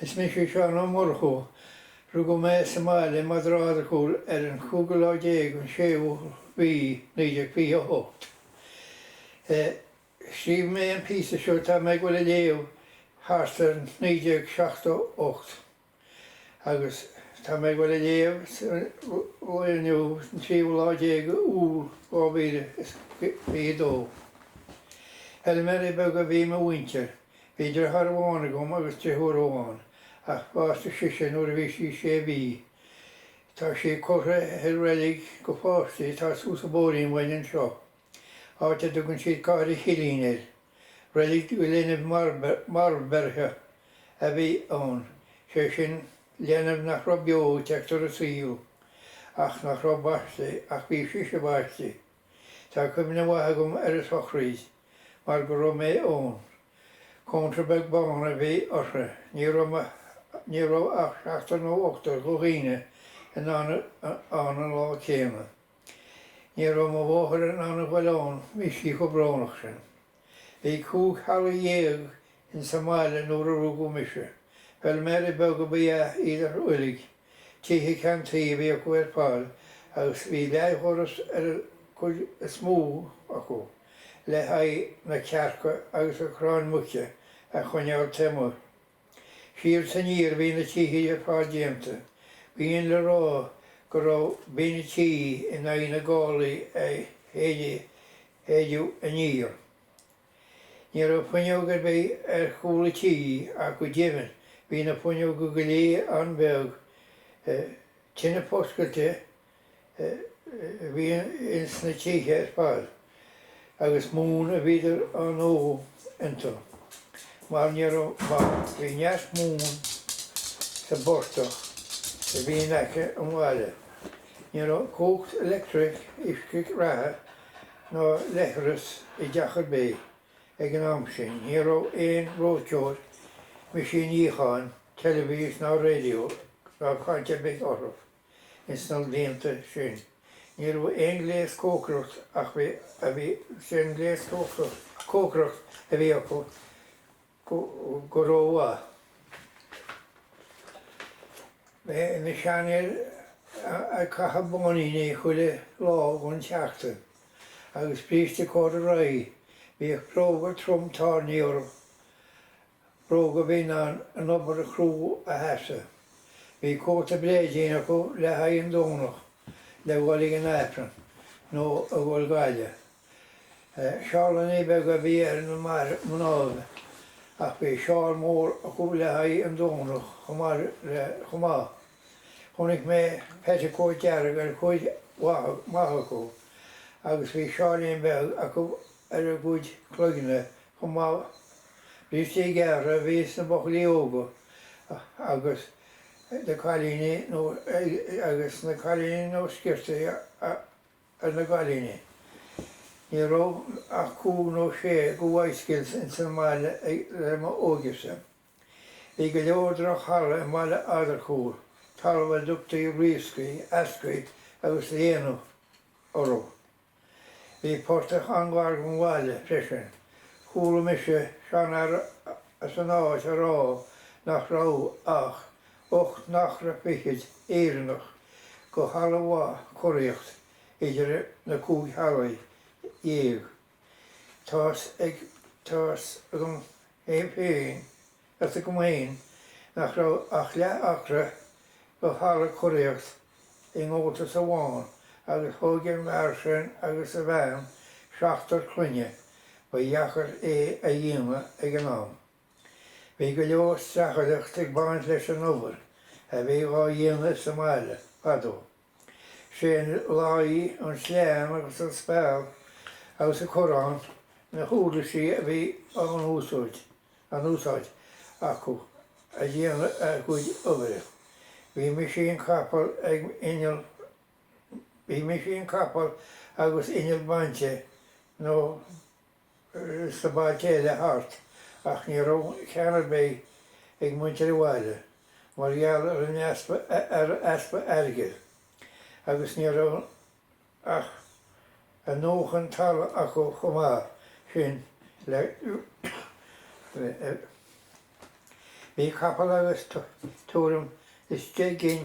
Is mise Seán Ó Murchú. Rugadh mé sa mbaile in Eadargúil ar an gcúigiú lá déag den séú mí 1928. Scríobh mé an píosa seo atá mé ag dul a léamh thart ar 1978. Agus tá mé ag dul a léamh sa lá inniu, an tríomhadh lá déag de Iúl, 2022. Feilméaraí beaga a bhí i mo mhuintir. Bhí driotháir amháin agam agus drifiúr amháin, ach bhásaigh sise nuair a bhí sí sé mhí. Tá sí curtha i reilig dho pháistí atá suas an bóithrín uainn anseo. áit a dtugann siad Cathair an Chillín air. Reilig dho linbh marbh-bheirthe a bhí ann, sé sin, leanbh nach raibh beo ag teacht ar an saol, ach nach raibh baiste, ach bhí sise baiste. Tá cuimhne mhaith agam ar a sochraíd, mar go raibh mé ann. Cónra beag bán a bhí uirthi. Ní raibh ach seachtar nó ochtar dho dhaoine ann an lá céanna. Ní raibh mo mháthair in ann a ghoil ann bhí sí chomh brónach sin. Bhí cúig theaghlaigh dhéag ins an mbaile nuair a rugadh mise. Feilméaraí beaga ba ea iad uilig. Tithe ceann tuí a bhí acu ar fad agus bhí leathdhoras ar an gcuid is mó acu le haghaidh na cearca agus an chráin mhuice a choinneáil taobh amuigh. Siar is aniar a bhí na tithe ar fad déanta. B'in le rá go raibh binn an tí in aghaidh na gálaí a shéideadh aniar. Ní raibh fuinneog ar bith ar chúl an tí ach go deimhin bhí na fuinneoga go léir an-bheag, tine foscailte a bhí ins na tithe ar fad agus móin a bhíodar á ndó iontu mar ní raibh mar bhí neart móin sa bportach a bhí in aice an bhaile. Ní raibh cumhacht leictreach, uisce reatha ná leithreas i dteach ar bith ag an am sin. Ní raibh aon reoiteoir, meaisín níocháin, teilibhís ná radio ná caint ar bith orthu. Ins na blianta sin, ní raibh aon ghléas cócaireacht ach an gléas cócaireacht a bhí acu go rómhaith. Na seanfhir ag caitheamh báiníní chuile lá dhon tseachtain agus bríste cordaraí, bhíodh bróga trom tairní orthu Bróga a bhí in ann an obair chrua a sheasamh. Bhí cóta bréidín acu le haghaidh an Domhnach le dhul ag an Aifreann nó a dhul go Gaillimh. Seálannaí beaga a bhí ar na mnáibh ach bhí seál mór acu le haghaidh an Domhnach chomh maith. Chonaic mé petticoat dearg ar chuid mhaith acu agus bhí seáilín beag acu ar a gcuid cloigne chomh maith. Brístí gearra a bhí sna buachaillí óga agus na cailíní nó agus sna cailíní nó sciortaí ar na gcailíní. Ní raibh ach cúig nó sé go bhicycles ins an mbaile le mo óigese. Bhí go leor droch-thalamh i mBaile Adair Chúil talamh a dtugtaí riascaí, eascaí agus léana orthu. Bhí portach an-ghar don bhaile freisin. Chuala mise seanfhear as an áit a rá nach raibh ach ocht n-acra fichid Éireannach go thalamh mhaith curaíocht idir na cúig theaghlach dhéag. Tá's agam féin Is agam féin nach raibh ach leath acra go thalamh curaíocht i ngabháltas amháin agus thóg an fear sin agus a bhean seachtar clainne, ba dheacair é a dhéanamh ag an am. Bhí go leor streachailteacht ag baint leis an obair a bhí dhá dhéanamh sa mbaile fadó. Sé'n láí, an sleán agus an speal agus an corrán na huirlisí a bhí á n-úsáid, á n-úsáid, acu a' déanamh a gcuid oibre. Bhí meaisín capall ag inneall, bhí meaisín capall agus inneall bainte nó. sna bailte eile thart ach ní raibh ceann ar bith ag muintir an bhaile mar gheall ar an easpa airgid agus ní raibh a ndóthain talaimh acu chomh maith sin le Bhí capall agus tuairim is deich gcinn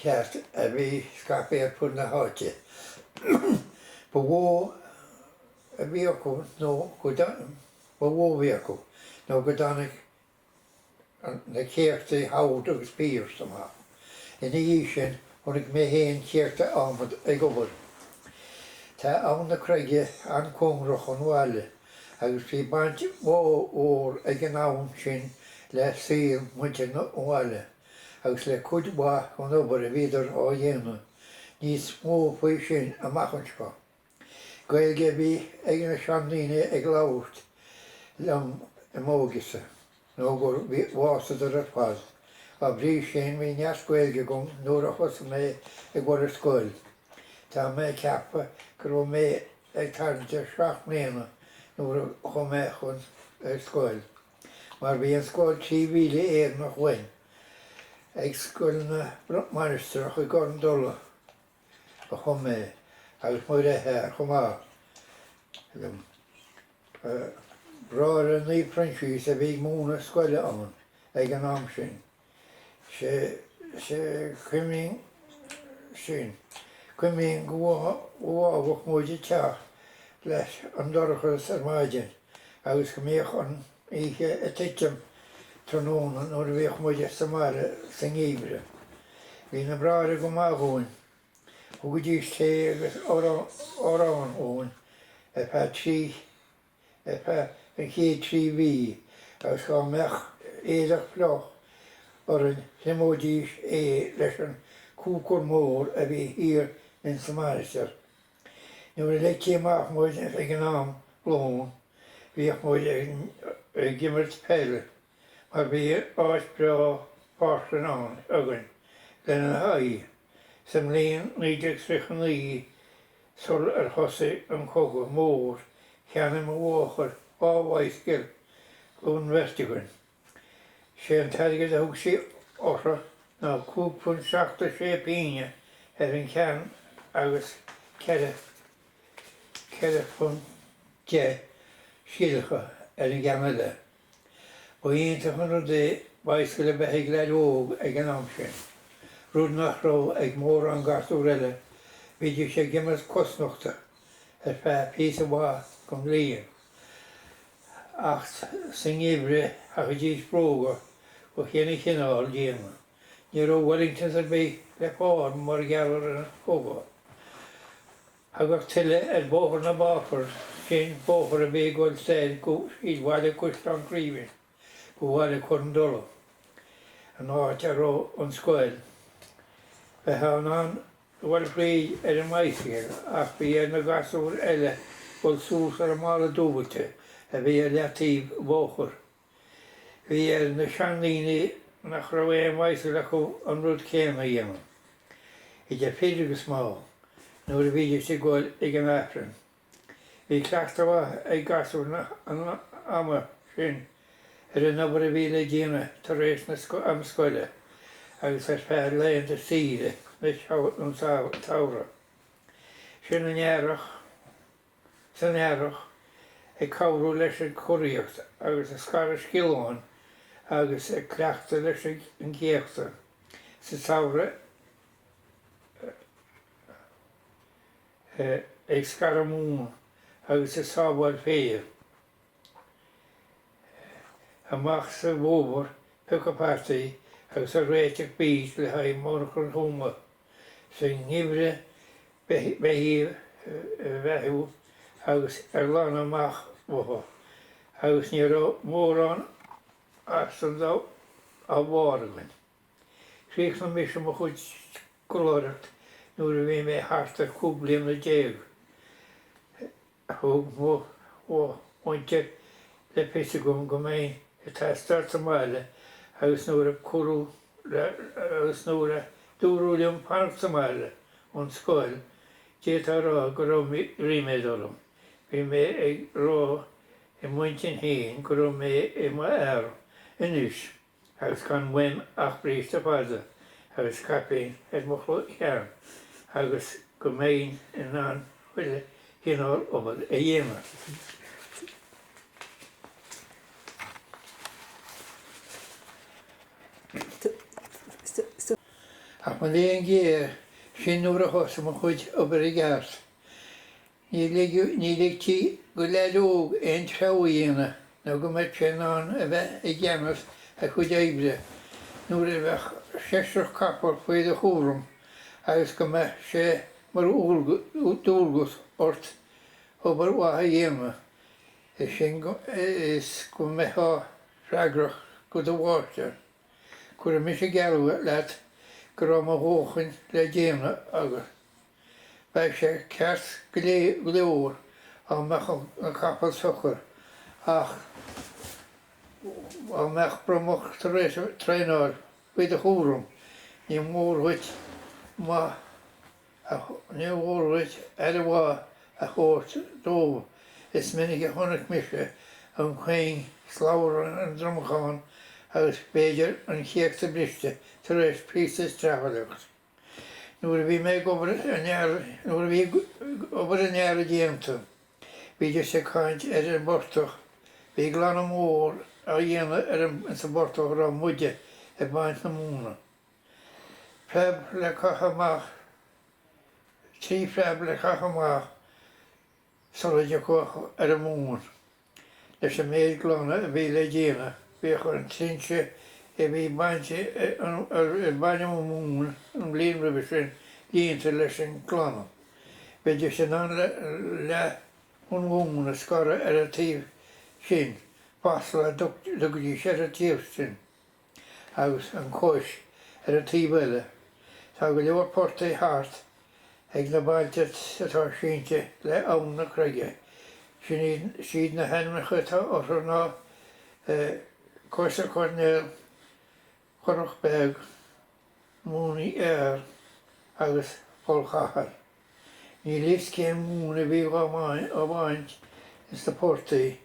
cairt a bhí scaipthe ar fud na háite. Ba mhó a bhí acu nó go ba mhó a bhí acu nó go dtáinig na céachtaí Howard agus Pierce amach. Ina dhiaidh sin, chonaic mé féin céachta adhmaid ag obair. Tá Abhainn na Creige an-chóngarach don bhaile agus bhí baint mhór ag an abhainn sin le saol mhuintir an bhaile. agus le cuid mhaith den obair a bhíodar á dhéanamh níos mó faoi sin amach anseo. Gaeilge a bhí ag na seandaoine ag labhairt liom i m'óigese nó gur bhásadar ar fad. Dá bhrí sin bhí neart Gaeilge agam nuair a thosaigh mé ag dul ar scoil. Tá mé ag ceapadh go raibh mé ag tarraingt ar seacht mbliana nuair a chuaigh mé chun scoil. mar bhí an scoil trí mhíle Éireannach uainn ag Scoil na Mainistreach i gCor an Dola a chuaigh mé agus mo dheartháir chomh maith liom. Bráithre Naomh Proinsias a bhí ag múineadh scoile ann ag an am sin. Sea, cuimhním sin. Cuimhním go bhfágadh muid an teach leis an dorchadas ar maidin agus go mbíodh an oíche ag titim tráthnóna nuair a bhíodh muid sa mbaile sa ngeimhreadh. Bhí na bráithre go maith dhúinn. Thugaidís tae agus arán dhúinn ar feadh trí. ar feadh an chéad trí mhí agus dá mbeadh éadach fliuch orainn thriomóidís é leis an cúcar mór a bhí thiar ins an Mainistir. Nuair a leigtí amach muid ag an am lón bhíodh muid ag imirt peile. Mar bhí áit bhreá páirc leathan ann againn lena haghaidh sa mbliain 1939 sul ar thosaigh an Cogadh Mór cheannaigh mo mháthair dhá bhicycle don bheirt againn. Sé an t-airgead a thug sí orthu ná cúig phunt seacht is sé pínne ar aon cheann agus ceithre, ceithre phunt deich scilleacha ar an gceann eile. Ba iontach an rud é Bicycle a bheith ag leaid óg ag an am sin, rud nach raibh ag mórán gasúr eile, bhídís ag imeacht cosnochta ar feadh píosa mhaith den bhliain ach sa ngeimhreadh chaithidís bróga de chuile chineál déanamh. Ní raibh Wellingtons ar bith le fáil mar gheall ar an gcogadh. Thagadh tuile ar Bhóthar na bPáipéar sin, bóthar a bhí ag dul soir go tríd Bhaile Caisleán Craoibhín go Bhaile Chor an Dola, an áit a raibh an scoil. Bheifeá in ann a dhul thríd ar an mbicycle ach bhí ar na gasúir eile dul suas ar an mballa dúbailte a bhí ar leataobh bhóthar. Bhí ar na seandaoine nach raibh aon bhicycle acu an rud céanna a dhéanamh, idir fir agus mná, nuair a bhídís ag gol ag an Aifreann. Bhí cleachtadh mhaith ag gasúir an ama sin ar an obair a bhí le déanamh tar éis na am scoile agus ar feadh laethanta saoire an tsamhraidh. Sin an Earrach. san earrach ag cabhrú leis an gcuraíocht agus ag scaradh sciollán agus ag cleachtadh leis an gcéachta sa tsamhradh ag scaradh móna agus ag sábháil féir. amach sa bhfómhar, ag piocadh fataí, agus ag réiteach beet le haghaidh monarcha Thuama sa ngeimhreadh beithígh a bheathú agus ag glanadh amach uathu, agus ní raibh mórán as an dá bharr againn. Chríochnaigh mise mo chuid scoláireacht nuair a bhí mé thart ar chúig bliana déag thug mo mhuintir le fios dhom go mbeinn ag teastáil sa mbaile agus nuair a cúradh agus nuair a dúradh liom fanacht sa mbaile ón scoil, d'fhéadfá a rá go raibh ríméad orm. Bhí mé ag rá i m'intinn féin go raibh mé i m'fhear anois. agus gan uaim ach bríste fada agus caipín ar mo cheann agus go mbeinn in ann chuile chineál obair a dhéanamh. Ach mo léan géar, sin nuair a thosaigh mo chuid obair i gceart. Ní ligeadh, ní ligtí, go leaid óg aon treabhadh a dhéanamh nó go mbeadh sé in ann a bheith i gceannas a chuid oibre nuair a bheadh seisreach capall faoi do chúram agus go mbeadh sé mar dhualgas ort obair mhaith a dhéanamh, is sin is go mbeitheá freagrach go do mháistir. Cuirfidh mise geall leat go raibh mo dhóthain le déanamh agam. Bheadh sé ceart go leor dá mbeadh an capall socair ach dá mbeadh bromach tar éis traenáil faoi do chúram ní mór dhuit maith a ní mhór dhuit aire mhaith a thabhairt dóibh. Is minic a chonaic mise an chuing slabhra ar an dromachán agus b'fhéidir an céachta briste tar éis píosa streachailt. Nuair a bhí mé, nuair a bhí obair an earraigh déanta, bhídís ag caint ar an bportach, bhí glanadh mór á dhéanamh ar an, insa bportach a raibh muide ag baint na móna. Preab le caitheamh amach, trí phreab le caitheamh amach, sula dtiocfá ar an móin. Leis an méid glanadh a bhí le déanamh, bhíodh an trinse a bhí bainte a mbaineadh an mhóin an bhliain roimhe sin líonta leis an nglanadh. Bheidís in ann leath an mhóin a scaradh ar an taobh sin, fáslach a thugaidís ar an taobh sin. agus an chlóis ar an taobh eile. Tá go leor portaigh thart ag na bailte atá sínte le Abhainn na Creige. Siad na hainmneacha atá orthu ná Cois Coirnéil, Currach Beag, Mooney Are agus Poll Chathail. Níl fhios cén mhóin a bhí á bhaint as na portaigh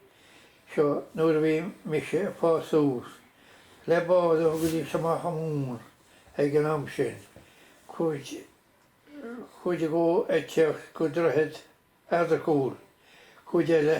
seo nuair a bhí mise ag fás suas. Le bád a thugaidís amach an mhóin ag an am sin, cuid dhó ag teacht go Droichead Eadargúil, cuid eile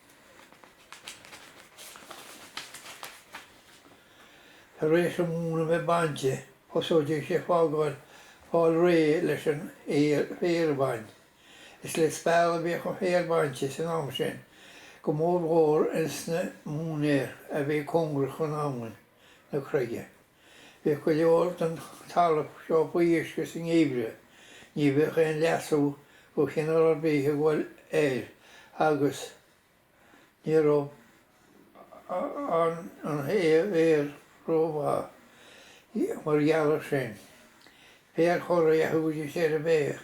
Tar éis an mhóin a bheith bainte, thosóidís ag fágáil fáil réidh leis an féar a bhaint. Is le speal a bhíodh an féar bainte san am sin, go mórmhór insna móinéir a bhí cóngarach chun Abhainn na Creige. Bhíodh go leor den talamh seo faoi uisce sa ngeimhreadh. Ní bheadh aon leasú de chineál ar bith ag dul air agus ní raibh an féar rómhaith mar gheall air sin. Féar curraigh a thugaidís air a bheadh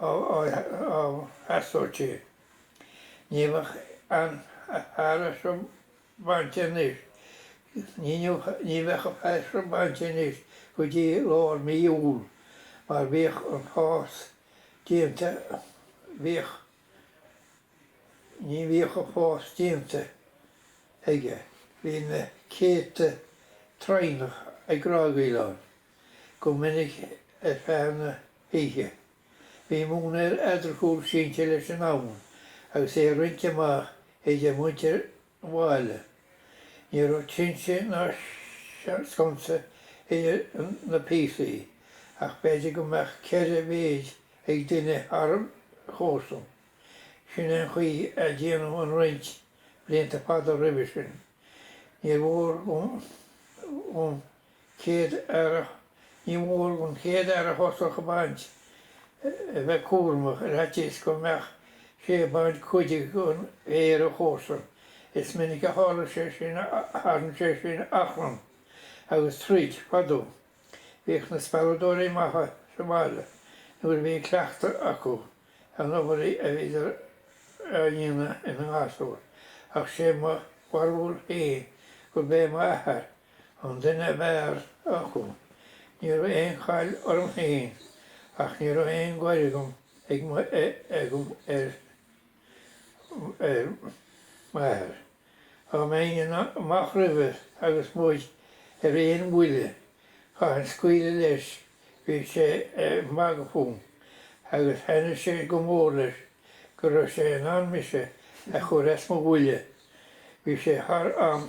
á theastódh di. Ní bheadh an féar seo bainte anois, ní bheadh an féar seo bainte anois go dtí lár mí Iúil mar bhíodh an fás déanta, bhíodh, ní bhíodh an fás déanta aige, bhí na céadta traonach ag grágaíl ann. go minic ar feadh na hoíche. Bhí móinéar Eadargúil sínte leis an abhainn agus é roinnte amach idir mhuintir an bhaile. Ní raibh trinse ná sconsa idir na píosaí ach b'fhéidir go mbeadh ceithre mhéid ag duine thar a chomharsan. Sin é an chaoi a déanadh an roinnt blianta fada roimhe sin. Níor mhór dhom chéad fhear, ní mór don chéad fhear a thosach a bhaint, a bheith cúramach, ar fhaitíos go mbeadh sé ag baint cuid an fhéir ón gcomharsa. Is minic a tharla sé sin, a tharraing sé sin achrann agus troid fadó. Bhíodh na spealadóirí maithe sa mbaile nuair a bhí an cleachtadh acu an obair a bhíodar á dhéanamh ina ngasúr, ach sé mo bharúil féin gurb é m'athair, an duine ab fhearr acu. Ní raibh aon chaill orm féin ach ní raibh aon ghoir agam agam ar m'athair. Dá mbeinn amach roimhe agus muid ar aon bhuille, chaithinn scaoileadh leis, bhí sé ag magadh fúm, agus thaitnigh sé go mór leis go raibh sé in ann mise a chur as mo bhuille, bhí sé thar am.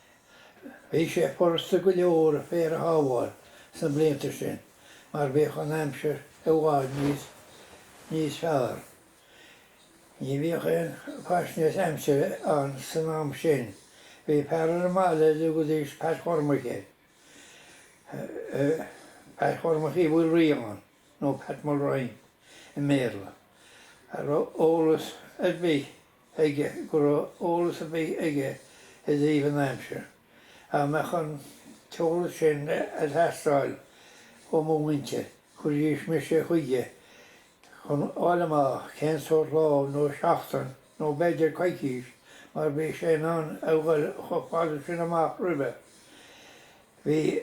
Bhí sé furasta go leor an féar a shábháil sna blianta sin mar bhíodh an aimsir i bhfad níos fearr. Ní bhíodh aon fhaisnéis aimsire ann san am sin. Bhí fear ar an mbaile a dtugaidís Peait Chormaic air, Peait Chormaic Uí Mhaoilriagháin nó Pat Mulrine i mBéarla, a raibh eolas ar bith aige go raibh eolas ar bith aige i dtaobh an aimsir, dá mbeadh an t-eolas sin ag teastáil ó mo mhuintir, chuiridís mise chuige chun a fháil amach cén sórt lá nó seachtain nó b'fhéidir coicís mar bhí sé in ann a dhul chomh fada sin amach roimhe. bhí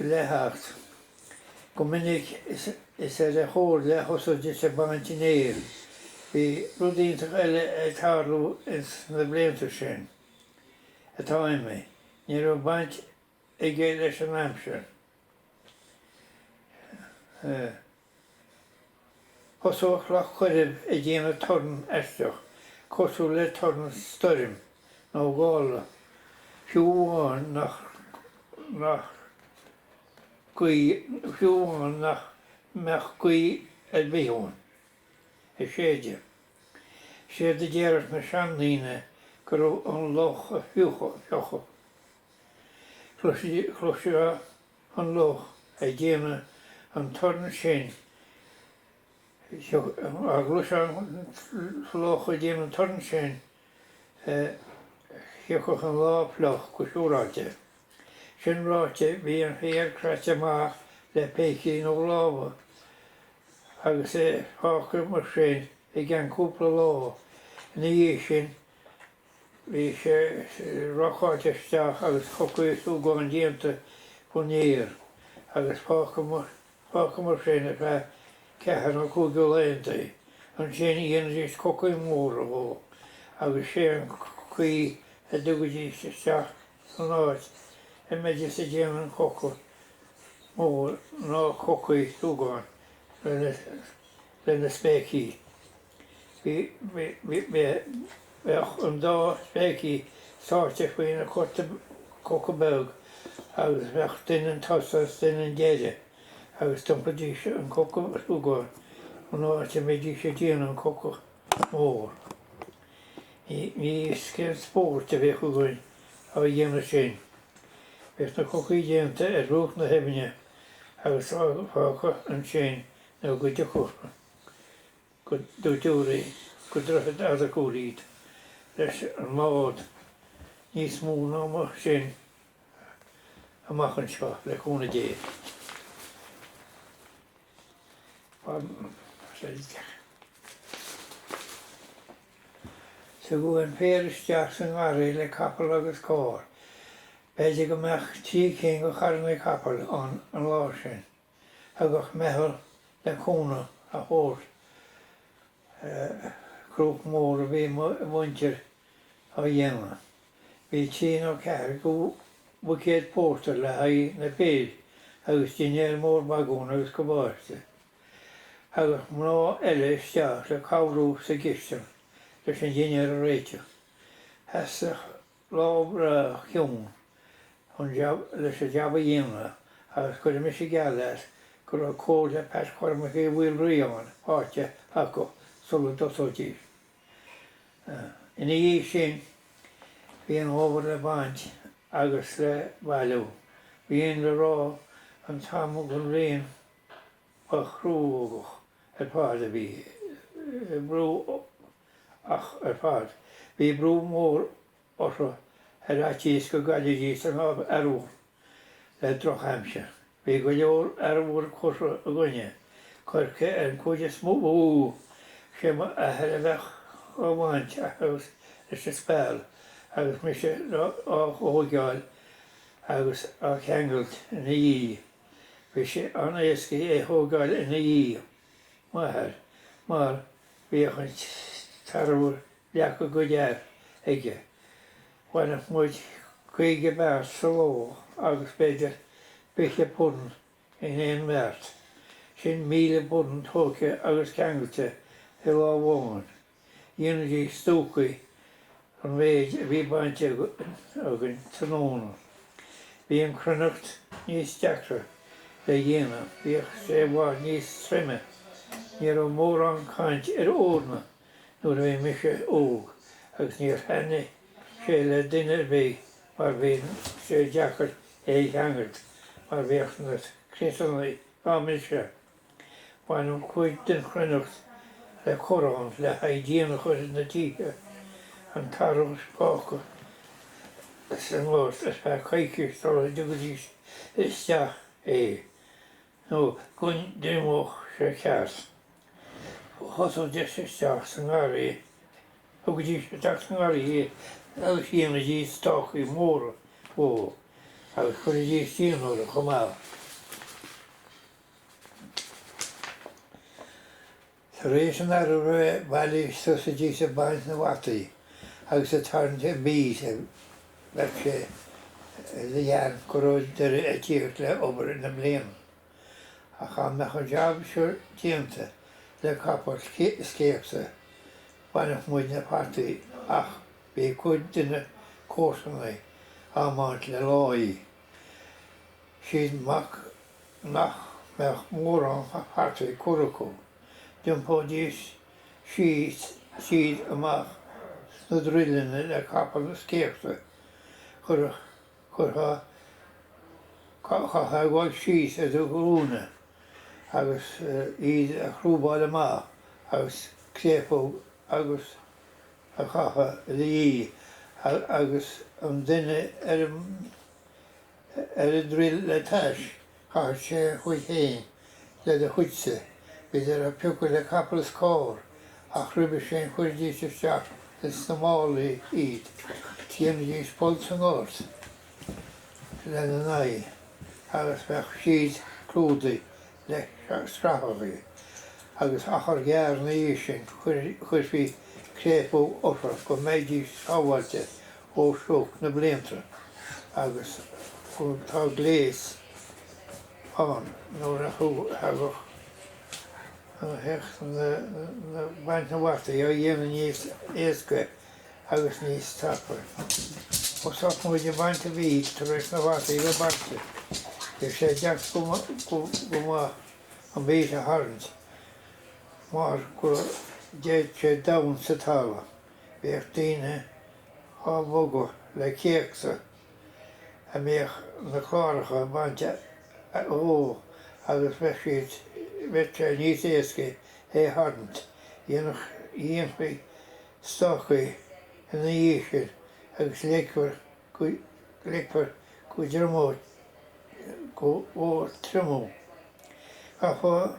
le theacht. Go minic is ar a chomhairle a thosaídis ag baint an fhéir. Bhí rud iontach eile ag tarlú ins na blianta sin atá imithe, ní raibh baint aige leis an aimsir. Thosódh Loch Coirib ag déanamh torann aisteach, cosúil le torann stoirm nó gála, fiú amháin nach nach gaoth fiú amháin nach mbeadh gaoth ar bith ann ag séideadh. Séard a déarfadh na seandaoine go raibh an loch ag fiuchadh. Chloisfeá an loch ag déanamh an torann sin dá gcloisfeá an loch ag déanamh an torann sin thiocfadh an lá fliuch go siúráilte. Sin ráite, bhíodh an féar craite amach le pící nó lámha agus é fágtha mar sin go ceann cúpla lá ina dhiaidh sin Bhí sé rocáilte isteach agus cocaí súgáin déanta faoin aer agus fágtha mar sin ar feadh ceathair nó cúig de laethanta. Ansin dhéanaidís cocaí móra dhó agus sé an chaoi a dtugaidís isteach san áit a mbeidis a' déanamh an choca mór na cocaí súgáin leis na spéicí. Bheadh an dá spéicí sáite faoin gcoca, coca beag agus bheadh duine un tosaigh is duine un deiridh agus d'iompraídís an coca súgáin ón áit a mbeidís ag déanamh an coca mór. Níos céal spóirt a bheadh againn á dhéanamh sin. Bheadh na cocaí déanta ar bhruach na haibhne agus fágtha ansin nó go dtiocfadh go dtarródh, go Droichead Fhada Ghúiríd, leis an mbád, níos mó faoi sin amach anseo, le cúnamh Dé. Tugadh an féar isteach sa ngarraí le capall agus carr. B'fhéidir go mbeadh trí cinn de charranna capaill ann an lá sin. Thagadh meitheal le cúnamh a thabhairt. Cruach mhór a bhí mo mhuintir á dhéanamh. Bhí trí nó ceathair de bhuicéid pórtair le haghaidh na bhfear agus dinnéar mór bagún agus cabáiste. Thagadh mná eile isteach le cabhrú sa gcistin leis an dinnéar a réiteach. Sheasadh Labhair Cionn cúnamh leis an jab a dhéanamh agus cuirfidh mise geall leat go raibh cóilte Pat Chormaic Uí Mhaoilraoáin faighte acu sula dtosóidís. Ina dhiaidh sin, bhí an fómhar le baint agus le bailiú. Bhí an le rá an t-am den bhliain. Ba chruógach ar fad a bhí brú ach ar fad, bhí brú mór orthu ar fhaitíos go gcaillfidís an barr le drochaimsir. Bhí go leor arbhair curtha againne, coirce ar an gcuid is mó. Sé mo athair a bheadh á bhaint leis an speal agus mise á thóigeáil agus á cheangailt ina dhiaidh. bhí sé an-éasca é thógáil ina dhiaidh, m'athair, mar bhíodh an t-arbhar leagtha go deas aige. Bhaineadh muid caoga beart sa ló agus b'fhéidir fiche punt in aon mbeart, sin míle punt tóigthe agus ceangailte i lá amháin. Dhéanaidís stucaí den mhéid a bhí bainte againn tráthnóna. Bhí an chruithneacht níos deacra le dhéanamh, bhíodh sé i bhfad níos troime. Ní raibh mórán caint ar eorna nuair a bhí mise óg agus níor thaitnigh sé le duine ar bith mar bhí sé deacair é a cheangailt mar bhíodh na criosanna dá mbriseadh. Baineadh cuid den chruithneacht le corrán le haghaidh díon a chur ar na tithe, an t-arbhar fágtha sa ngort ar feadh coicíse sula dtugaidís isteach é nó go dtriomódh sé ceart. Thosóidís isteach sa ngarraí, thugaidís isteach sa ngarraí é agus dhéanaidís stácaí móra dhó agus chuiridís díon orthu chomh maith. Tar éis an t-arbhar a bheith bailithe, thosaídís ag baint na bhfataí agus ag tarraingt an beet is bheadh sé le déanamh go raibh deireadh ag tíocht le obair na bliana. Ach an mbeadh an jab seo déanta le capall is céachta? Bhaineadh muid na fataí ach bhí cuid de na comharsanaigh á mbaint le láí. Sin iad nach mbeadh mórán fataí curtha acu, d'iompóidís iad amach as na druileanna le capall is céachta curtha chaithfeá a ghoil síos ar do ghlúine agus iad a chrúbáil amach as an gcréafóg agus a chaitheamh i do dhiaidh agus an duine ar an Ar an druil le t'ais, chaithfeadh sé a chuid féin le do chuidse. Bhídís á bpiocadh le capall is carr, ach roimhe sin chuiridís isteach ins na málaí iad. Dhéanaidís poll sa ngort lena n-aghaidh agus bheadh siad clúdaithe le scraitheachaí, agus achar gearr ina dhiaidh sin chuirfí créafóg orthu go mbeidís sábháilte ó shioc na blianta agus tá gléasanna nua tagtha isteach le baint na bhfataí a dhéanamh níos éasca agus níos tapa. Thosódh muid ag baint an bheet tar éis na bhfataí a bheith bainte, bhí sé deacair go maith an bheet a tharraingt mar go dtéadh sé domhain sa talamh. Bhíodh daoine á bhogadh le céachta a mbíodh na cláracha bainte dhó agus bheadh siad, bheadh sé níos éascaí é a tharraingt, dhéanfadh, dhéanfaí stácaí ina dhiaidh sin agus leigfear go, leigfear go dtriomódh, go, go, triomú. Chaithfeá.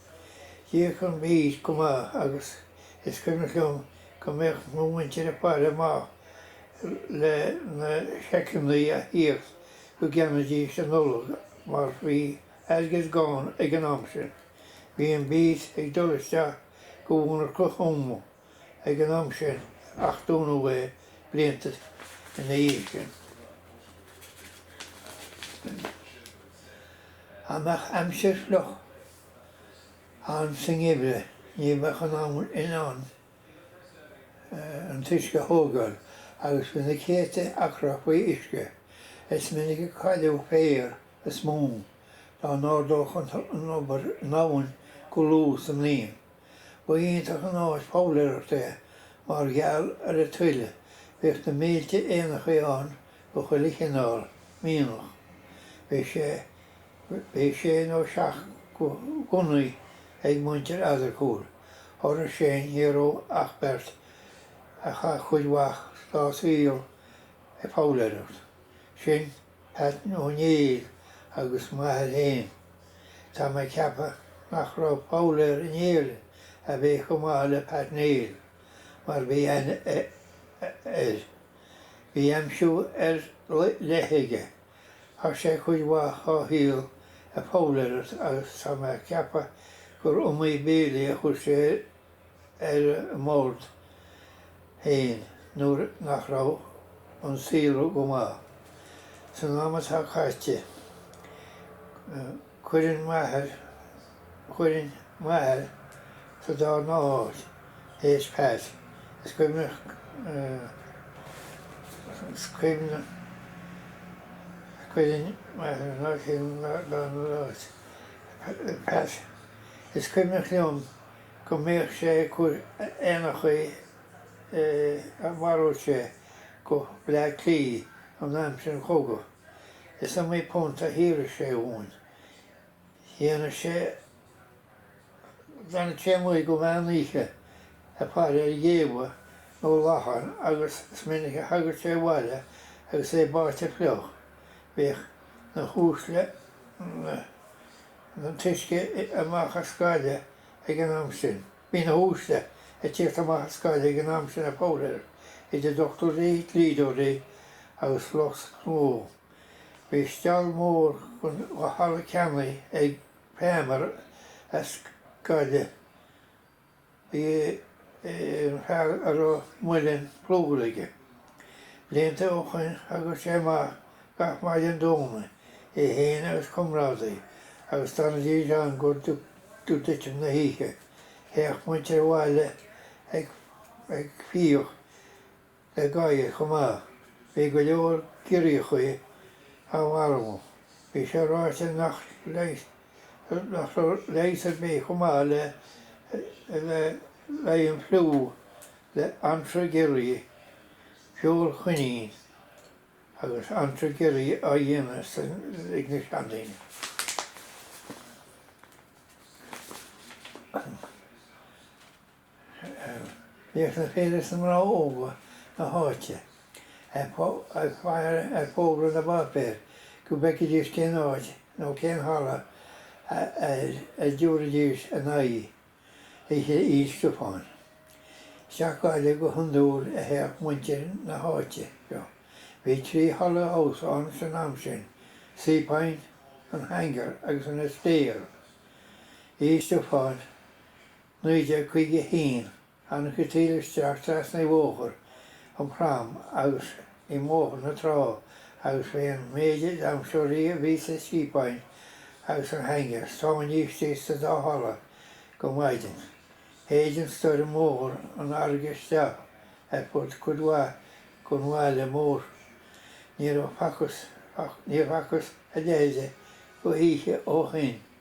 D'íoc an beet go maith agus is cuimhneach liom go mbíodh mo mhuintir ag faire amach le na seiceannaí a thíocht go gceannaídís an Nollaig mar bhí airgead gann ag an am sin. Bhíodh an beet ag dul isteach go Monarcha Thuama. ag an am sin ach dúnadh é blianta ina dhiaidh sin. Dá mbeadh aimsir fhliuch ann sa ngeimhreadh ní bheadh an abhainn in ann an t-uisce a thógáil agus bhí na céadta acra faoi uisce. Is minic a cailleadh féar is móin dá n-ardódh an obair an abhainn go luath sa mbliain. Ba iontach an áis foghlaeireachta é mar gheall ar an tuile, bhíodh na mílte éanachaí ann de chuile chineál, mianach, bhíodh, bhíodh sé nó seacht gunnaí ag muintir Eadargúil, thoradh sin ní raibh ach beirt a chaith cuid mhaith dá saol ag foghlaeireacht, sin, Pat Ó Néill agus m'athair féin. Tá mé ceaptha nach raibh foghlaeir in Éirinn a bheadh chomh maith le Pat Néill, mar bhí aithne air. Bhí aimsiú ar leith aige. Chaith sé cuid mhaith dhá shaol ag foghlaeireacht agus tá mé ceaptha gur iomaí béilí a chuir sé ar an mbord féin nuair nach raibh an saol go maith. San am atá caite, cuireann m'athair, chuirfinn m'athair sa darna háit théis Pat, is cuimhneach, is cuimhneach, cuireann m'athair an áit chéanna sa darna háit, Pat, is cuimhneach liom go mbíodh sé ag cur éanachaí a mharaíodh sé go Bleá Cliath in aimsir an chogaidh. Is iomaí punt a shaothraíodh sé dhúinn. D'fhanadh sé, d'fhanadh sé amuigh go meán oíche ag faire ar ghéabha nó lachain agus is minic a thagadh sé abhaile agus é báite fliuch. Bhíodh na huaisle, na. an t-uisce amach as Gaillimh ag an am sin. Bhí na huaisle ag tíocht amach as Gaillimh ag an am sin ag foghlaeireacht, idir dochtúirí, dlíodóirí agus lucht gnó. Bhí stiall mór de thalamh ceannaithe ag Palmer as Gaillimh. B'in fear a raibh muileann plúir aige. Blianta ó shoin thagadh sé amach gach maidin Domhnaigh, é fhéin agus comrádaí, agus d'fhanaidís ann go dtí titim na hoíche. Théadh muintir an bhaile ag fiach. le gadhair chomh maith. Bhí go leor giorriachaí á marú. Bhí sé ráite nach raibh leigheas ar bith chomh maith le haghaidh an fliú le anraith giorria feoil choinín agus anraith giorria á dhéanamh ag na seandaoine. Bhíodh na fir is na mná óga na háite ag faire ar fógra na bpáipéar go bhfeicfidís cén áit nó cén halla a dtabharfaidís a n-aghaidh oíche Fhéile Stiofáin. Isteach go Gaillimh go hiondúil a théadh muintir na háite seo. Bhí trí halla damhsa ann san am sin, Seapoint, an Hangar agus an Astaire. Oíche Stiofáin. 1951, Tháinig an taoille isteach trasna Bhóthar an Phrom agus i mBóthar na Trá agus bhí an méid damshóirí a bhí sa Seapoint agus an Hangar sáinnithe istigh sa dá halla go maidin. Shéid an stoirm mór an fharraige isteach ar fud cuid mhaith den bhaile mór. Níor facthas a leithide d'oíche ó shoin.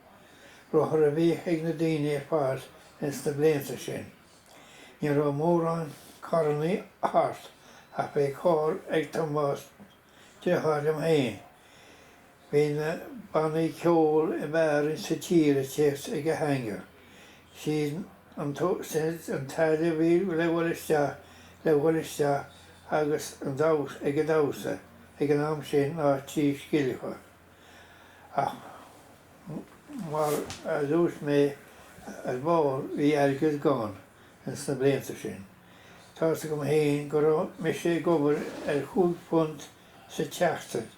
rothair a bhíodh ag na daoine ar fad ins na blianta sin. Ní raibh mórán carrannaí thart ach bhí carr ag Tomás, deartháir liom féin. Bhí na bannaí ceoil ab fhearr ins sa tír ag tíocht ag an Hangar. Séard an taille a bhí le dhul isteach le dhul isteach agus an damhsa ag damhsa ag an am sin ná trí scilleacha. Ach mar a dúirt mé ar ball bhí airgead gann ins na blianta sin. Tá's agam féin go raibh mise ag obair ar chúig phunt sa tseachtain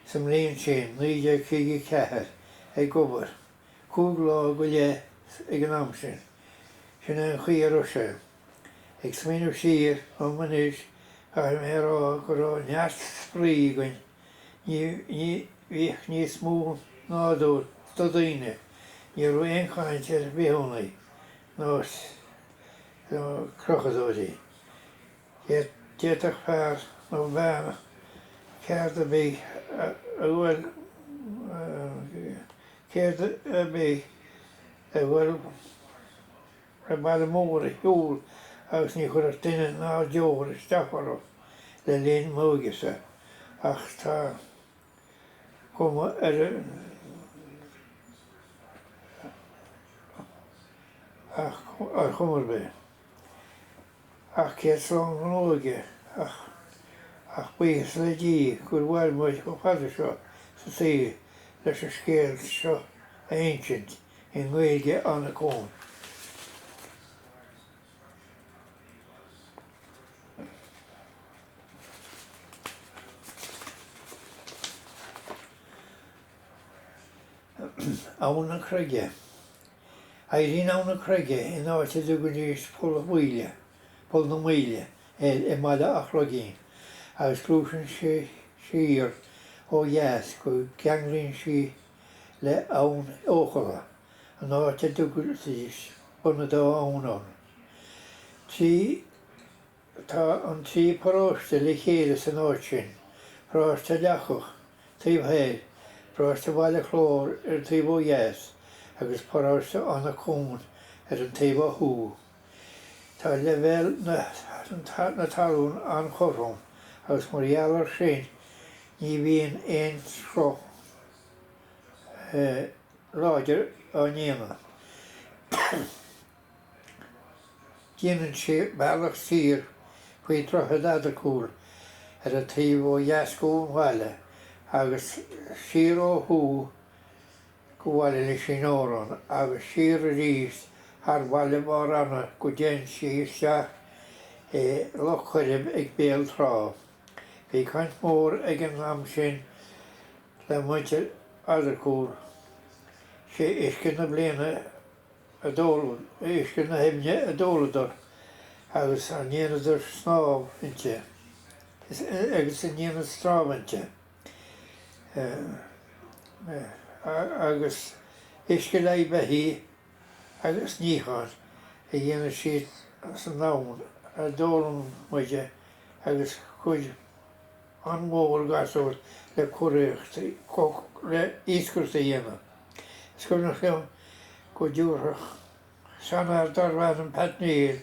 sa mbliain sin 1954, ag obair cúig lá go leith ag an am sin. Sin é an chaoi a raibh sé. Ag smaoineamh siar dhom anois caithfidh mé a rá go raibh neart spraoi againn. Ní bhíodh níos mó nádúr do dhaoine, ní raibh aon chaint ar bhithiúnaigh nó crochadóirí. D'fhéadfadh fear nó bean ceard ar bith a ghoil a ghoil raibh baile mór a shiúl agus ní chuirfeadh duine ná deoraí isteach orthu le linn m'óigese ach tá cuma ar ach ar chuma ar bith ach céad slán don óige ach ach buíochas le Dia gur mhair muid chomh fada seo sa tsaol leis an scéal seo a insint. i nGaeilge Anach Cuain. Abha na Creige. Éiríonn Abha na Creige in áit a dtugadh Inis Poll Mhaoile, Poll na Maoile, air i mbaile Áth Chloigín agus gluaiseann sé siar ó dheas go gceanglaíonn sí le Abhainn Eochaille, an áit a dtugtaís Bun Dá Abhainn ann. Trí Tá an trí paróiste le chéile san áit sin, paróiste Leacach taobh thoir, paróiste Bhaile Chláir ar an taobh ó dheas agus paróiste Anach Cuain ar an taobh ó thuaidh. Tá leibhéal na talún an-chothrom agus mar gheall air sin ní bhíonn aon sruth láidir á ndéanamh. Déanann sé bealach siar faoi droichead Eadargúil ar an taobh ó dheas ón mbaile agus siar ó thuaidh go baile Lisín an Óráin agus siar arís thar bhaile Bharr Eanaigh go dtéann sí isteach i Loch Coirib ag Béal Trá. Bhí baint mhór ag an abhainn sin le muintir Eadargúil. Sé uisce na bliana a d'óladh, uisce na haibhne a d'óladar agus a ndéanadar snámh inti agus a ndéanann snámh inti. agus uisce le haghaidh beithígh agus níocháin a dhéanann siad san abhainn a d'fhoghlaim muid agus cuid an-mhór gasúir le curaíocht, le iascaireacht a dhéanamh. Is cuimhneach liom go dtabharfadh seanfhear darbh ainm Pat Neil,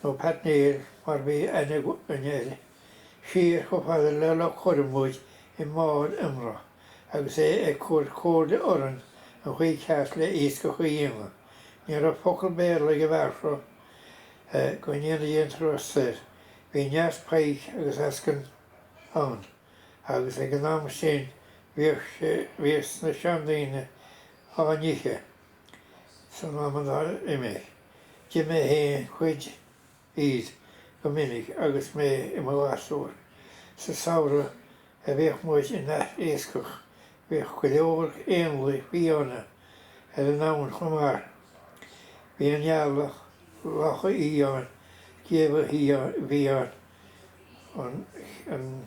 nó Pat Néill mar bhí aithne againn air, Siar chomh fada le Loch Coirib muid i mbád iomramh agus é ag cur comhairle orainn an chaoi ceart le iascach a dhéanamh. Ní raibh focal Béarla ag an bhfear seo go ndéana Dia grásta air. Bhí neart pike agus eascann ann agus ag an am sin bhíodh na seandaoine á n-ithe san am atá imithe. D'ith mé féin cuid iad go minic agus mé i mo ghasúr. Sa samhradh a bhíodh muid ag iascach bhíodh go leor éanlaith fiáine ar an abhainn chomh maith. Bhí an eala, lacha fhiáin, géabha fiáine, an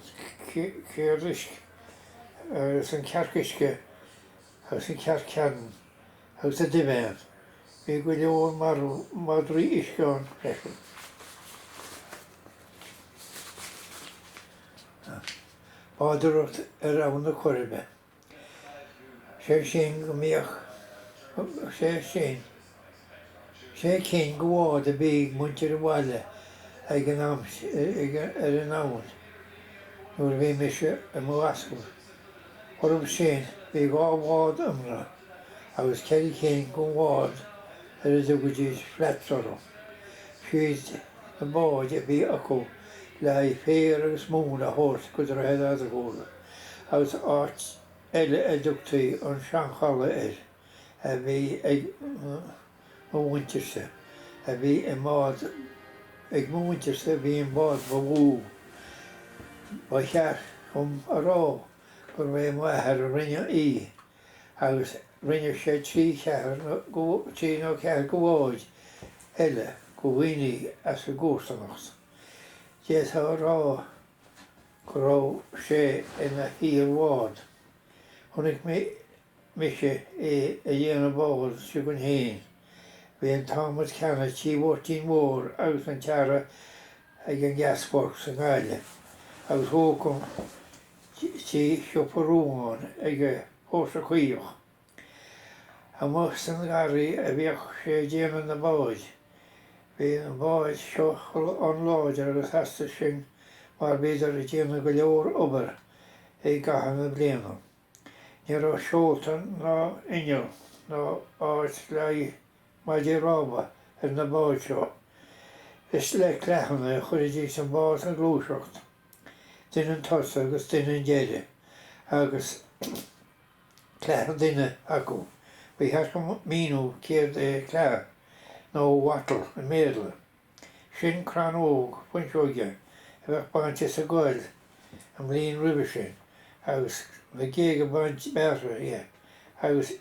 chearc uisce agus an chearc uisce agus an chearc cheannann. agus duibhéan. Bhí go leor madraí uisce ann freisin. Bádóireacht ar abhainn na Coiribe. Sé sin go mbíodh sé sin. Sé cinn go bháid a bhí ag muintir an bhaile againn ar an abhainn nuair a bhí mise i mo scorach. Orthu sin, bhí dhá bhád iomramh agus ceithre cinn den bhád ar a dtugaidís flat bottom. Siad na báid a bhí acu le haghaidh féar agus móin a thabhairt go Droichead Bharr an Chalaidh agus áit eile a dtugtaí an Seanchalaidh air a bhí ag mo mhuintirse a bhí an bád ag mo mhuintirse a bhí an bád ba mhó ba cheart dhom a rá gurbh é m'athair a rinne í agus rinne sé trí cheathair na go trí nó ceathair go bháid eile go dhaoine as an gcomharsanacht. D'fhéadfá a rá go raibh sé ina shaor bád. Chonaic mise é ag déanamh an bhád seo againn féin. Bhí an t-adhmad ceannaithe tigh Mháirtín Mhóir agus an tearra ag an Gasworks i nGaillimh, agus ócam tigh siopa rúm ann ag an bPóirse Caoch. Amuigh san ngarraí a bhíodh sé ag déanamh na báid. Bhí an bád seo an-láidir agus theastaigh sin mar bhíodar ag déanamh go leor obair i gcaitheamh na bliana. Ní raibh seolta ná inneall ná áit le haghaidh maidí rámha ar na báid seo. Is le cleathanna a chuiridís an bád ag gluaiseacht, duine chun tosaigh agus duine chun deiridh, agus cleath an duine acu, ba cheart dhom míniú céard é cleath, nó wattle i mBéarla. Sin crann óg fuinseoige a bheadh bainte sa gcoill an bhliain roimhe sin agus na géaga bainte bearrtha dhe agus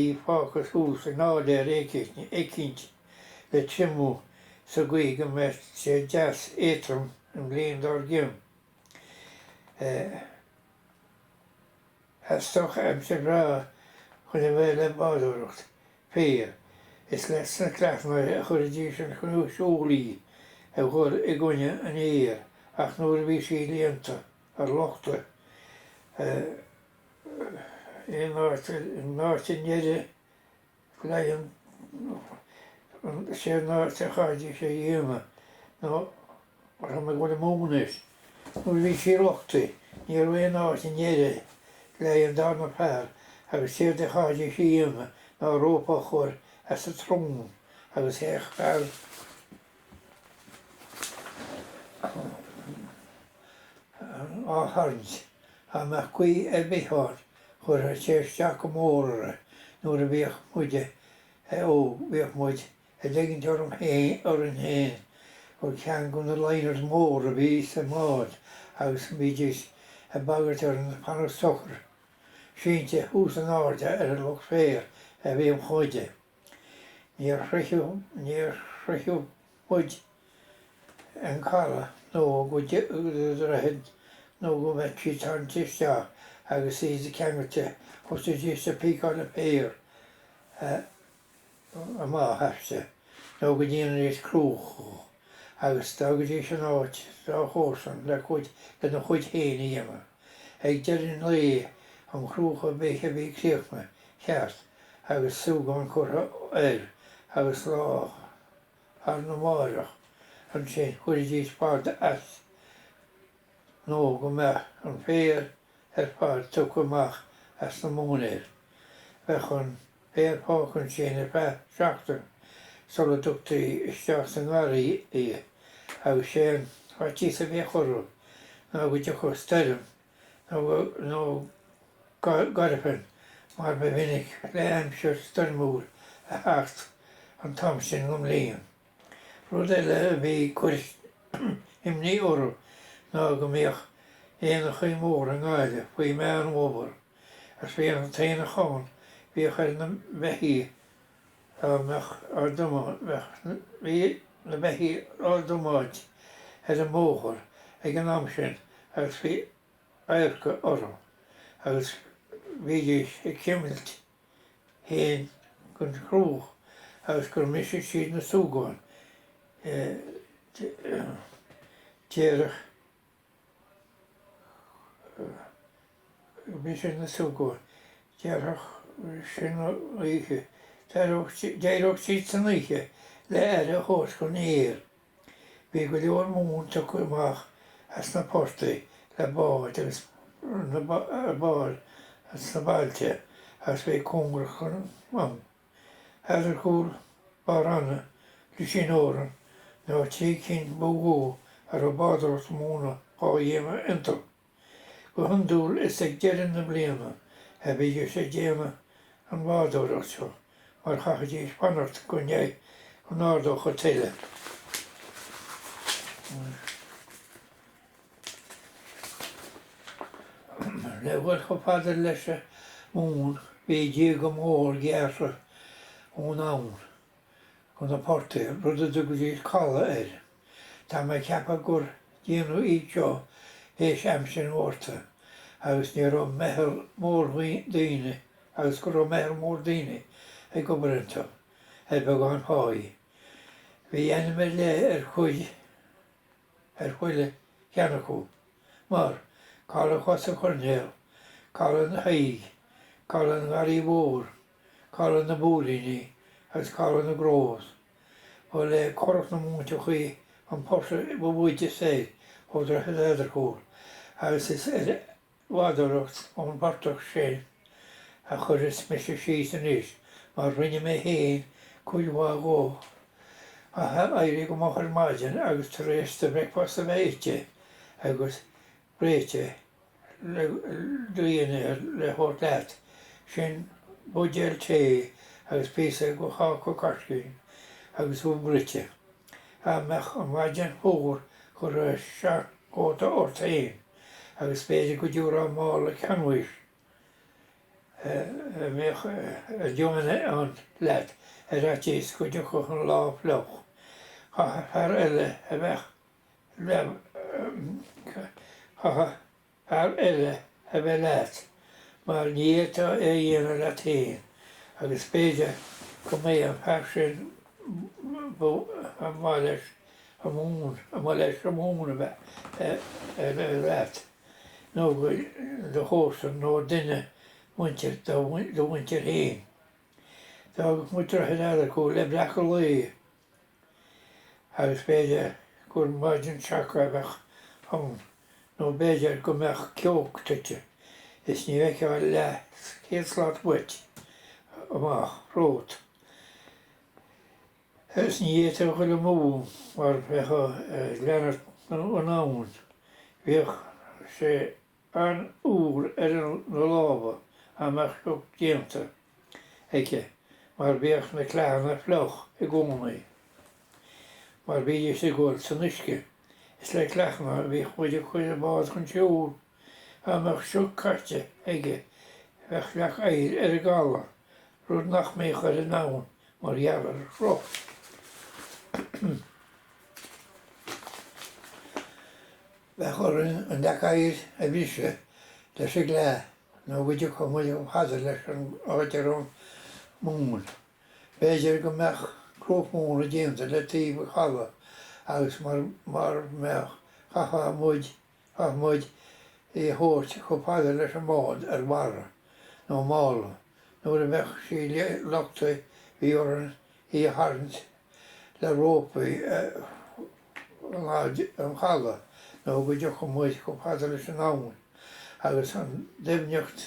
í fágtha thuas in áiléar eicínt le triomú sa gcaoi go mbeadh sé deas éatrom an bhliain dár gcionn. Theastódh aimsir bhreá chiúin a bheith le bádóireacht féir. Is leis na cleitheannaí a chuiridís chun siúil í a chur i gcoinne an fhéir ach nuair a bhí sí líonta, luchtaithe, aon áit i ndeireadh. Glaonn sé na teitheadh sé dhiana nó rna go bhfuil amú anois. Nuair a bhí sí rochtai ní raibh aon áit i ndeireadh leí an darna fear agus téad de thaithí sí dhiana ná rópa a chur as a trom agus théadh fear á tarraingt. Dá mbeadh gaoth ar bith ann, chuirfeadh sé isteach go mór orthu nuair a bhíodh muid óg, bhíodh muid ag ligint orm féin, orainn féin, gur ceann de na liners mór a bhí sa mbád agus bhídís ag bagairt orainn fanacht socair, sínte thuas in airde ar an lucht féir a bhíodh muide. Níor shroicheadh, níor shroicheadh muid an caladh nó go dtí an droichead nó go mbeadh sí tarraingthe isteach agus í ceangailte thosaídís ag píceáil an féar amach aisti nó go ndéanaidís cruach agus d'fhágaidís an áit dá chomharsan le cuid lena chuid féin a dhéanamh. Ag deireadh an lae, an chruach ar bith a bhí críochnaithe ceart agus súgán curtha air agus lá arna mháireach ansin chuiridís fad as nó go mbeadh an féar ar fad tugtha amach as na móinéir. Bheadh an. féar fágtha ansin ar feadh seachtain sula dtugtaí isteach sa ngarraí í agus sé an faitíos a bhíodh orthu ná go dtiocfadh stoirm nó gairfean mar ba mhinic le aimsir stoirmiúil a theacht an t-am sin den mbliain. Rud eile a bhí ag cur imní orthu ná go mbíodh aonachaí móra i nGaillimh faoi Mheán Fómhair. As féar an t-aon a chonn bhíodh ar na beithígh dá mbeadh na beithígh á dtiomáint ar an mbóthar ag an am sin agus bhí adharca orthu agus bhídís ag cuimilt fhéin den chruach agus go mbrisfeadh siad na súgáin, d'éireodh. siad na súgáin. D'éireodh san oíche, d'éireodh siad san oíche le aire a thabhairt don fhéar. Bhí go leor móin tugtha amach as na portaigh le báid agus ba iad na bailte agus bhí cóngarach an. Eadargúil, Barr Eanaigh, Lisín an Óráin na trí cinn ba mhó a raibh bádóireacht mhóna dhá dhéanamh iontu. Go hiondúil is ag deireadh na bliana a bhídís ag déanamh an bhádóireacht seo mar chaithfidís fanacht go ndeich go n-ardódh an tuile. Le dhul chomh fada leis an móin, bhí díoga mór gearrtha ón abhainn chuig na portaigh, rud a dtugaidís caladh air. Tá mé ag ceapadh gur déanadh iad seo théis aimsir an Ghorta agus ní raibh agus go raibh meitheal mór daoine ag obair iontu ar bheagán páí. Bhí ainm ar leith ar chuid. ar chuile cheann acu, mar, Caladh Chos an Choirnéil, Caladh an Thaidhg, Caladh an Gharraí Mhóir, Caladh na bPóilíní agus Caladh na gCros. Ba le Currach na Múinte chuí an portach ba mhóide soir ó dhroichead Eadargúil agus is ar bhádóireacht ón bportach sin a chuirfeas mise síos anois mar rinne mé féin cuid mhaith dhó ag éirí go moch ar maidin agus tar éis do bhricfeast a bheith ite agus réite le do dhinnéar le thabhairt leat sin buidéal tae agus píosa de cháca caiscín agus ubh bhruite dá mbeadh an mhaidin fuar chuirfeá seanchóta ort féin. agus b'fhéidir go dtiúrfá mála canbháis a mbeadh díon ann leat ar fhaitíos go dtiocfadh an lá fliuch. Chaithfeadh fear eile a bheith leat mar ní fhéadfá é a dhéanamh leat féin agus b'fhéidir go mbeidh an fear sin ba mhaith leis Common, a mhol leis common a bheith ar a leath, nó go do chomharsan nó duine muinteartha de do mhuintir féin. D'fhágadh muid droichead Eadargúil le breacadh lae, agus b'fhéidir gur maidin seaca a bheadh ann, nó b'fhéidir go mbeadh ceo tite is ní fheicfeá leathchéad slat uait amach romhat. Is ní fhéadfá a ghoil amú mar bheifeá ag leanúint an abhainn. Bhíodh sé an-fhuar ar na lámha dá mbeadh sioc déanta aige mar bhíodh na cleathanna fliuch i gcónaí mar bhídís ag gabháil san uisce. Is le cleathanna a bhíodh muid ag cur an bháid chun siúil. Dá mbeadh sioc caite aige bheadh leac oighir ar an gcaladh, rud nach mbeadh ar an abhainn mar gheall ar an sruth. Bheadh orainn an leac oighir a bhriseadh leis an gcleith nó go dtiocfadh muid chomh fada leis an áit a raibh móin. B'fhéidir go mbeadh cruach mhóna déanta le taobh an chalaidh agus mara mbeadh chaithfeadh muid Chaith muid í a thabhairt chomh fada leis an mbád ar bharra, nó mála, nuair a bheadh sí luchtaithe bhí orainn í a tharraingt le rópaí go lag an chaladh nó go dtiocfadh muid chomh fada leis an abhainn agus an doimhneacht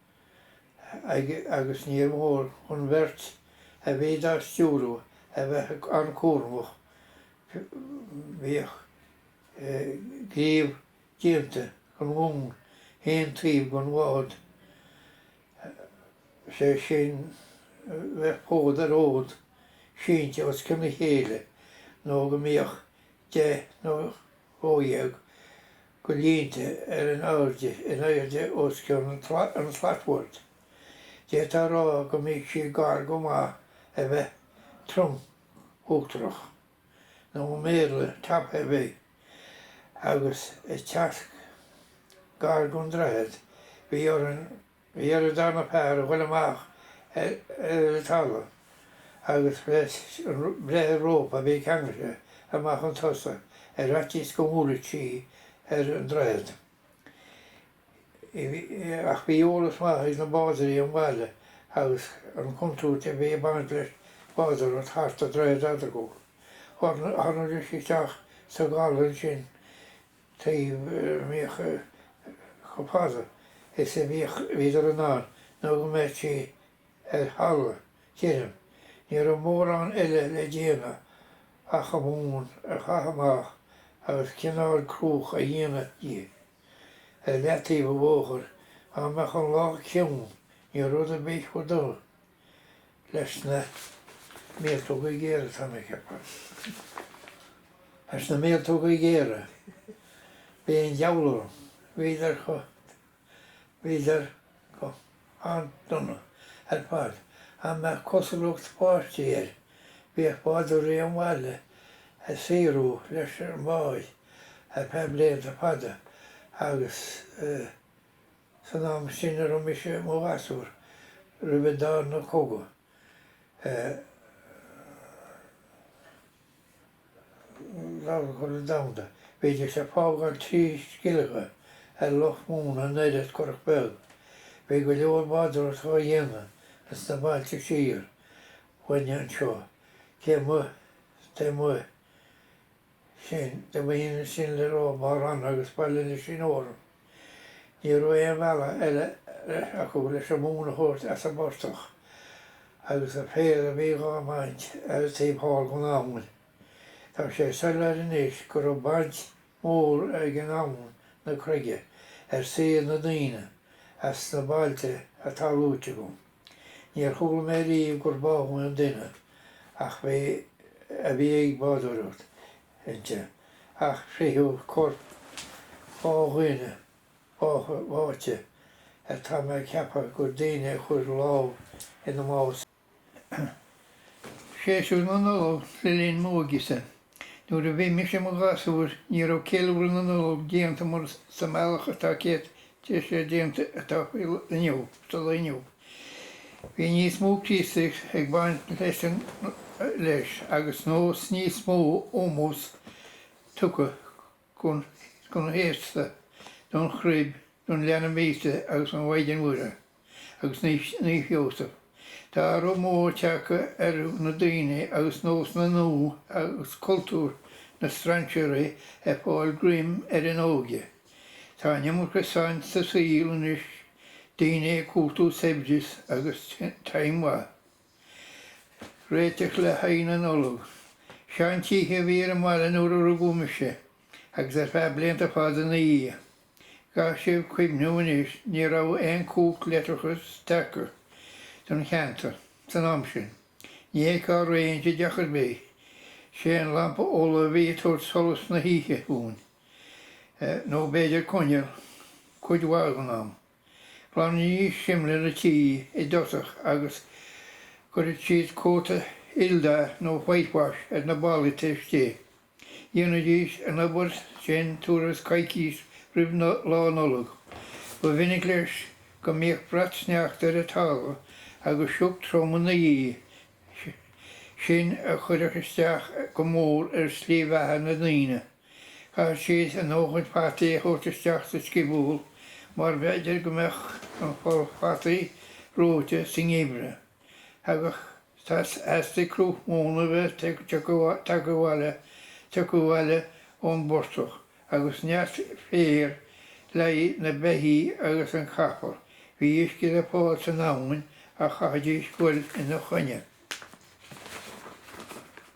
aige agus níor mhór don bheirt a bhí dá stiúradh a bheith an-chúramach, bhíodh gníomh déanta den mhóin chaon taobh den bhád, is é sin bheadh fód ar fhód sínte os cionn a chéile nó go mbíodh deich nó. 12 de línte ar in airde, in airde os cionn an tslatbhoird. D'fhéadfá a rá go mbíodh sí gar go maith a bheith trom uachtarach, nó i mBéarla top heavy, agus ag teacht gar don droichead, bhí orainn Bhí ar an darna fear a ghoil amach ar an talamh agus breith ar rópa a bhí ceangailte amach chun tosaigh ar fhaitíos go mbuailfeadh sí ar an droichead. Ach bhí eolas maith ag na bádóirí an bhaile agus an contúirt a bhí ag baint le bádóireacht thart a' droichead Eadargúil. Tháinig sí isteach sa gcaladh ansin a mbíodh, chomh fada is a bhíodh, bhíodar in ann nó go mbeirtí ar halla, deirim. Ní raibh mórán eile le déanamh ach an mhóin a chaitheamh amach agus cineál cruach a dhéanamh di. Ar leataobh an bhóthair, dá mbeadh an lá ciúin, ní raibh rud ar bith chomh dona. leis na míoltóga géara atá mé ag ceapadh, leis na míoltóga géara, bhí an diabhal orthu, bhíodar chomh, bhíodar go han-dona ar fad dá mbeadh cosúlacht báistí air, bhíodh bádóirí an bhaile ag saothrú leis an mbád ar feadh blianta fada agus eh, San am sin a raibh mise i mo ghasúr, roimh an darna cogadh, Dara Cogadh Domhanda, bhídís ag fágáil trí scillinge ar lucht móna an oiread curach beag. Bhí go leor bádóireachta dhá dhéanamh ins na bailte siar uainne anseo, taobh amuigh, taobh amuigh, sin, i mbliain an sin le rá ba ranna agus Baile Uí Lisín orainn. Ní raibh aon bhealach eile leis acu leis an móin a thabhairt as an bportach agus an féar a bhí dhá bhaint ar an taobh thall den abhainn. Tá sé soiléir anois go raibh baint mhór ag an abhainn na Croige ar saol na ndaoine as sna bailte atá luaite agam. Níor chuala mé riamh gur bádh aon duine a bhí, a bhí ag bádóireacht inti, ach fritheadh corp dhá dhuine bádtha, bháite, ar tá mé ag ceapadh gur daoine a chuir lámh ina mbás iad. Séasúr na Nollag le linn m'óige-sa. Nuair a bhí mise i mo ghasúr, ní raibh ceiliúradh na Nollag déanta mar sa mbealach atá sé, tá sé déanta atá sa lá inniu. Bhí níos mó Críostaíocht ag baint leis an leis agus nós níos mó ómós tugtha go. don fhéasta, don chruib, don Leanbh Íosa agus don Mhaighdean Mhuire agus Naomh Seosamh. Tá athrú mór tagtha ar na daoine agus nósanna nua agus cultúr na strainséirí ag fáil greim ar an óige. Tá an iomarca saint sa saol anois, daoine ag cuartú saibhris agus time maith. Réiteach le haghaidh na Nollag. Seantithe a bhí ar an mbaile nuair a rugadh mise, agus ar feadh blianta fada ina dhiaidh. Caithfidh sibh cuimhniú anois, ní raibh aon chumhacht leictreachais tagtha don cheantar san am sin. Ní hé cá réidh a deacair ba é an lampa ola a bhí ag tabhairt solas na hoíche dhúinn, nó b'fhéidir coinneal cuid mhaith den am. Ghlanaidís simléar an tí i dtosach agus chuireadh siad cóta aoldath nó whitewash ar na ballaí taobh istigh. Dhéanaidís an obair sin tuairim is coicís roimh Lá Nollag. Ba mhinic leis go mbíodh brat sneachta ar an talamh agus sioc trom ina dhiaidh sin a chuireadh isteach go mór ar shlí bheatha na ndaoine. Caithfidh siad a ndóthain fataí a thabhairt isteach sa sciobúl mar b'fhéidir go mbeadh an poll fataí reoite sa ngeimhreadh. Thagadh theastaíodh cruach mhóna bheith tagtha abhaile, tugtha abhaile ón bportach agus neart féir le haghaidh na beithí agus an capall. Bhí uisce le fáil san abhainn ach chaithfidís goil ina choinne.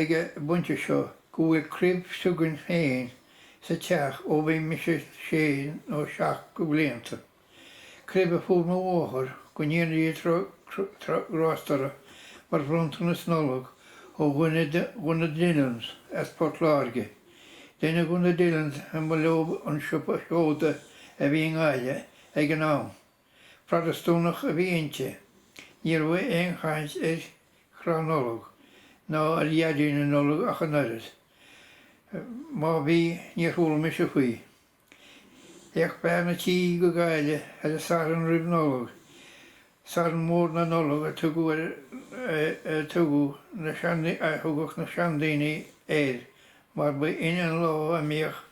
ag an bpointe seo go bhfuil cruib s'againn féin sa teach ó bhí mise sé nó seacht de bhlianta, cruib a fuair mo mháthair go ndéana Dia grásta uirthi mar bhronntanas Nollag ó dhuine de na Dillons as Port Láirge. Duine de na Dillons a mba leo an siopa seoda a bhí i nGaillimh ag an am. Protastúnach a bhí inti. Ní raibh aon chaint ar chrann Nollag ná ar Dhaidí na Nollag ach an oiread. Má bhí, níor chuala mise faoi. Théadh bean a' tí go Gaillimh ar an Satharn roimh Nollag, Satharn Mór na Nollag a thugadh na sean-daoine air mar ba shin an lá a mbíodh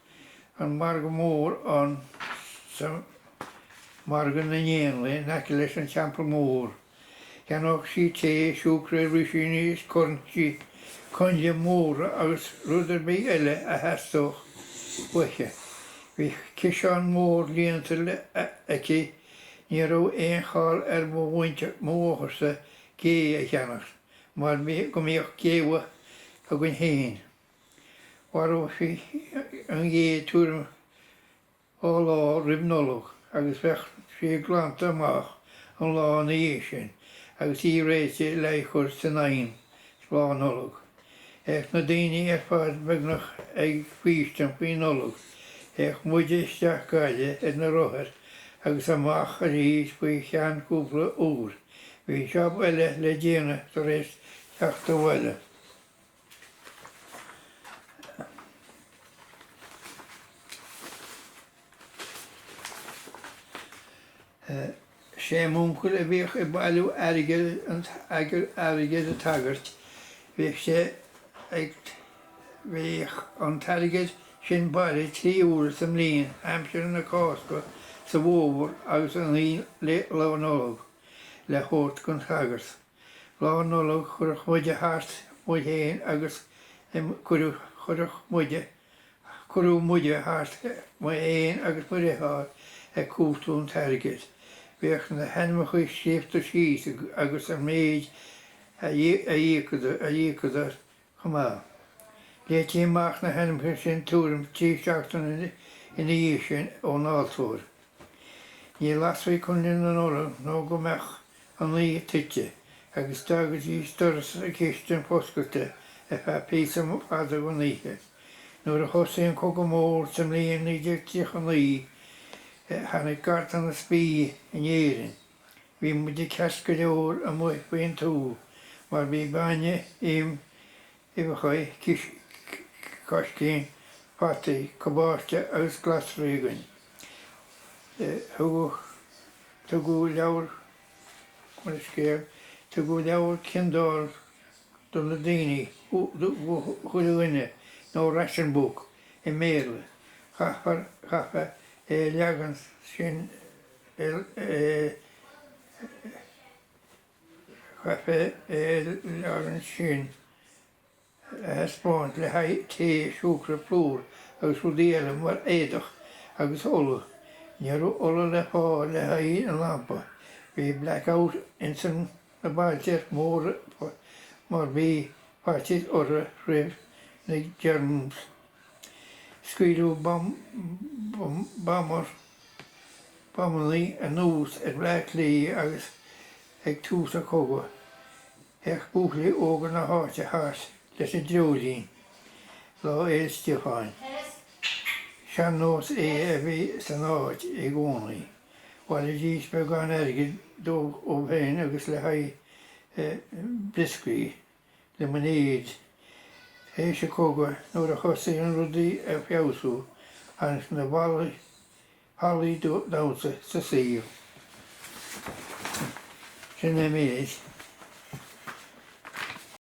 an margadh mór ann sa Margadh na nÉanlaith in aice leis an Teampall Mór. Cheannódh sí tae, siúcra, rísíní is coinnle, coinnle móra agus rud ar bith eile a theastódh uaithi. Bhí ciseán mór líonta aici, ní raibh aon chall ar mo mhuintir, mo mháthair-sa, gé a cheannacht. mar go mbíodh géabha againn féin. Mharódh sí an ghé tuairim dhá lá roimh Nollaig agus bheadh sí glanta amach an lá ina dhiaidh sin agus í réidh le í chur san oigheann Lá Nollag. Théadh na daoine ar fad beagnach ag faoistin faoi Nollaig. Théadh muide isteach go Gaillimh ar na rothair agus amach arís faoi cheann cúpla uair. Bhí jab eile le déanamh tar éis teacht abhaile. Sé m'uncail a bhíodh ag bailiú airgid an t-airgead an tsagairt bhíodh sé ag Bheadh an t-airgead sin bailithe trí huaire sa mbliain, aimsir na Cásca sa bhfómhar agus an aon lá Lá Nollag, le thabhairt don sagart. Lá Nollag chuirfeadh muide thart, muid fhéin agus em chuireadh, chuirfeadh muide, cuirtí muide thart, muid fhéin agus mo dhriotháir ag cuartú an t-airgead. Bhíodh na hainmneacha scríobhta síos agus an méid a d'íocadar, a d'íocadar, chomh maith. Léití amach na hainmneacha sin tuairim 3 seachtaine ina dhiaidh sin ón altóir. Ní lasfaí Coinneal na Nollag nó go mbeadh an oíche tite agus d'fhágaidís doras an chistin foscailte ar feadh píosa fada den oíche. Nuair a thosaigh an Cogadh Mór sa mbliain 1939 tháinig ganntanas bídh in Éirinn. Bhí muide ceart go leor amuigh faoin tuath mar bhí bainne, im, uibheachaí, sicíní, fataí, cabáiste agus glasraí againn. Thugadh, tugadh, leabhair, leabhar scéal, tugadh leabhar ciondáil do na daoine, do chuile dhuine, nó ration book i mBéarla. Chaithfeá é a leagan sin. chaithfeá é ansin a thaispeáint le haghaidh tae, siúcra, plúr agus rudaí eile mar éadach, agus ola. Ní raibh ola le fáil le haghaidh an lampa. Bhí black out ins na bailte móra mar bhí faitíos orthu roimh na Germans. Scaoileadh bamar, bamannaí, anuas ar Bhleá Cliath ag tús an chogadh, théadh buachaillí óga na háite thart leis na dreoilín Lá Fhéile Stiofáin. Sean-nós é a bhí san áit i gcónaí. Bhailídís beagán airgid dóibh féin agus le haghaidh brioscaí. le m'aimsir, tar éis an chogaidh, nuair a thosaigh rudaí ag feabhsú agus na hallaí damhsa sa saol. Sin an méid.